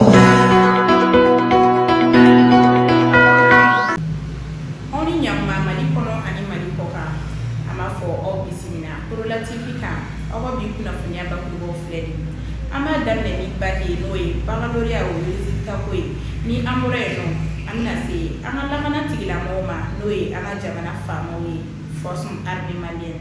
Aw ni ɲakuma mali kɔnɔ ani mali kɔ kan an b'a fɔ aw bisimila Porola TV kan aw ka bi kunnafoniya bakurubaw filɛ an b'a daminɛ ni bac ye n'o ye baccalauréat o résultat ko ye ni an bɔra yen nɔ an bɛna se an ka lakana tigilamɔgɔw ma n'o ye an ka jamana faamaw ye force armée malienne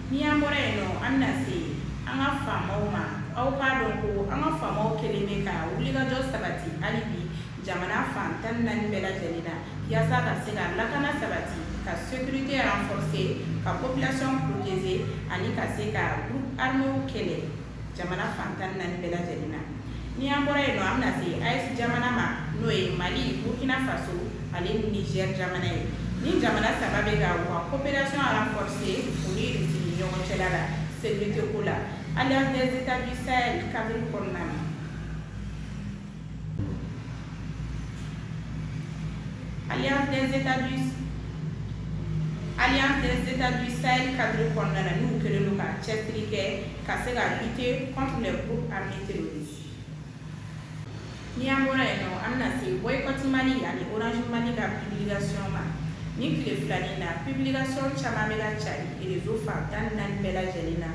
Ni an bɔra yen nɔ an bɛna se an ka faamaw ma aw k'a dɔn ko an ka faamaw kelen bɛ ka wulikajɔ sabati hali bi jamana fan tan ni naani bɛɛ lajɛlen na yaasa ka se ka lakana sabati ka sécurité renforcer ka population protéger ani ka se ka groupe arméw kɛlɛ jamana fan tan ni naani bɛɛ lajɛlen na ni an bɔra yen nɔ an bɛna se AES jamana ma n'o ye Mali Burkina Faso ale ni Niger jamana ye nin jamana saba bɛ ka u ka coopération renforcer u ni Irisi ni ɲɔgɔn cɛla la sécurité ko la alliance des états du Sahel cadre kɔnɔna na Alliance des États du Sahel cadre kɔnɔna na n'u kɛlen don ka cɛsiri kɛ ka se ka lutter contre les groupes armés terroristes ni an bɔra yen nɔ an bɛna se boycott Mali ani Orange Mali ka publication ma nin tile fila nin na publication caman bɛ ka cari réseau fan tan ni naani bɛɛ lajɛlen na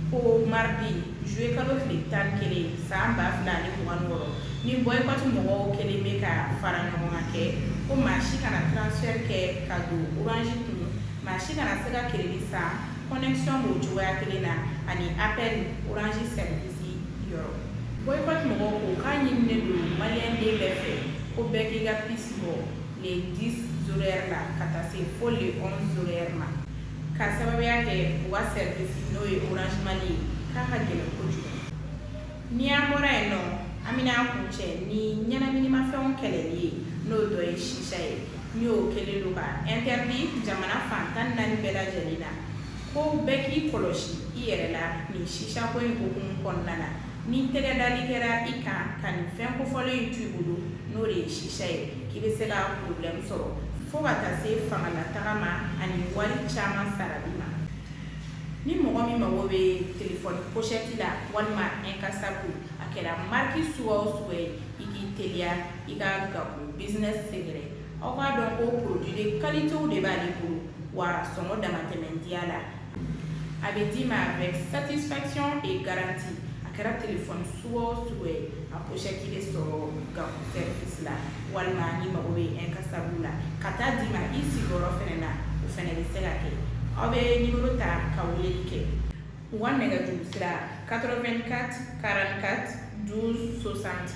ko mardi Juillet kalo tile 11 san 2026 ni boycott mɔgɔw kɛlen bɛ ka fara ɲɔgɔn kan kɛ ko maa si kana transfert kɛ ka don orange kun, maa si kana se ka keredi san connexion b'o cogoya kelen na ani appel orange service yɔrɔ. Boycott mɔgɔw ko k'a ɲininen don maliyɛn den bɛɛ fɛ ko bɛɛ k'i ka puce bɔ le 10 zéro heure la ka taa se fo le 11 zéro heure ma. Ka sababuya kɛ u ka service n'o ye Orange Mali ye k'a ka gɛlɛn kojugu, ni an bɔra yen nɔ an bɛna a kuncɛ ni ɲɛnaminimafɛnw kɛlɛli ye n'o dɔ ye shisha ye ni o kɛlen don ka interdit jamana fan tan ni naani bɛɛ lajɛlen na ko bɛɛ k'i kɔlɔsi i yɛrɛ la nin shisha ko in hukumu kɔnɔna na. Ni tɛgɛ dali kɛra i kan ka nin fɛn kofɔlen in to i bolo n'o de ye shisha ye k'i bɛ se ka problème sɔrɔ fo ka taa se fangalataga ma ani wari caman sarali ma ni mɔgɔ min mago bɛ telefɔni pochette la walima incassable a kɛra marque suguya o suguya ye i k'i teliya i ka Gakou business sɛgɛrɛ aw k'a dɔn ko produit de qualitéw de b'ale bolo wa sɔngɔ damatɛmɛ diya la a bɛ d'i ma avec satisfaction et garantie a kɛra téléphone suguya o suguya ye a pochette bɛ sɔrɔ Gakou service la walima n'i mago bɛ incassable la ka taa d'i ma i sigiyɔrɔ fɛnɛ na o fɛnɛ bɛ se ka kɛ aw bɛ numéro ta ka weleli kɛ u ka nɛgɛjuru sira 84 44 12 60